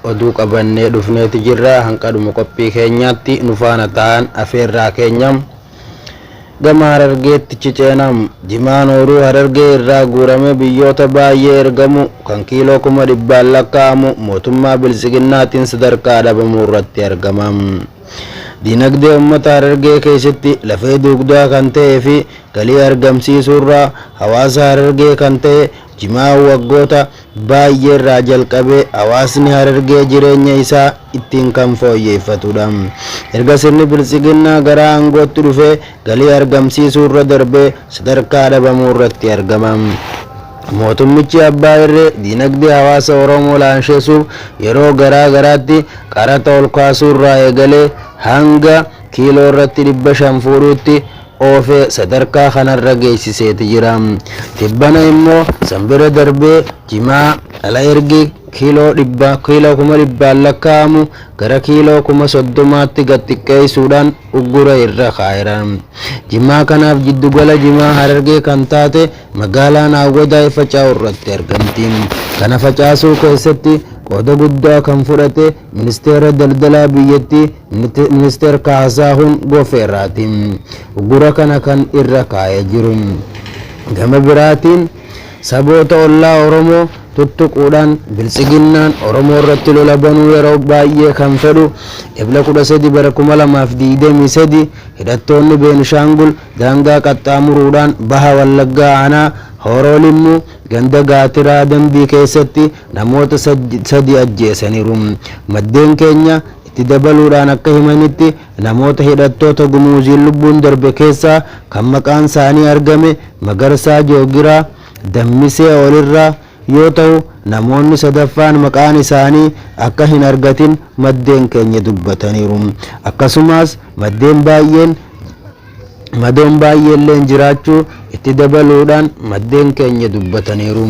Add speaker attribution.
Speaker 1: oduu qabannee dhufneeti jirra hanqadhuma qophii keenyaatti nu faana ta'an afeerraa keenya gama harargeetti ciceenam jimaan ooruu harargee irraa guuramee biyyoota baay'ee ergamu kan kiiloo kuma dhibbaan lakkaa'amu mootummaa biltsiginnaatiin sadarkaa dhabamuu irratti argama. Dinagdee ummata Harargee keessatti lafee duugdaa kan ta'ee fi galii argamsiisuurraa hawaasa Harargee kan ta'e Jimaa waggoota baay'eerraa jalqabee hawaasni Harargee jireenya isaa ittiin kan fooyyeeffatudha. Erga sirni Biltsiginnaa gara aangootti dhufee galii argamsiisuurra darbee sadarkaa dhabamuurratti argama. Mootummichi abbaa irree diinagdee hawaasa Oromoo laanshessuuf yeroo garaa garaatti qaraxa olkaasuurraa eegalee hanga kiiloorratti 500 fuudhuutti oofee sadarkaa kanarra geessiseeti jira. Tibbana immoo san bira darbee jimaa ala ergii kiiloo dhibba kiiloo kuma dhibbaan lakkaa'amu gara kiiloo kuma soddomaatti gad xiqqeessuudhaan uggura irra kaa'eera. Jimaa kanaaf jiddugala jimaa Harargee kan taate magaalaan Awwadaay faca'u irratti argamti. Kana facaasuu keessatti qooda guddaa kan fudhate ministeera daldalaa biyyattii ministeer Kaasaahuun Gofeeraati. Uggura kana kan irra kaa'ee jiru. Gama biraatiin Saboota ollaa Oromoo tuttuquudhaan Biltsiginnaan Oromoo irratti lola banuu yeroo baay'ee kan fedhu Ebla 13 bara 2023 hidhattoonni Beenishaangul daangaa qaxxaamuruudhaan Baha Wallaggaa Aanaa Hooroo Limmuu ganda Gaatiraa Dambii keessatti namoota 3 ajjeesaniiru. Maddeen keenya itti dabaluudhaan akka himanitti, Namoota hidhattoota Gumuuziin lubbuun darbe keessaa kan maqaan isaanii argame Magarsaa Joogiraa, Dammisee Olirraa, yoo tahu namoonni sadaffaan maqaan isaanii akka hin argatin maddeen keenya dubbataniiru. Akkasumaas maddeen baay'een madoon baay'eelleen jiraachuu itti dabaluudhaan maddeen keenya dubbataniiru.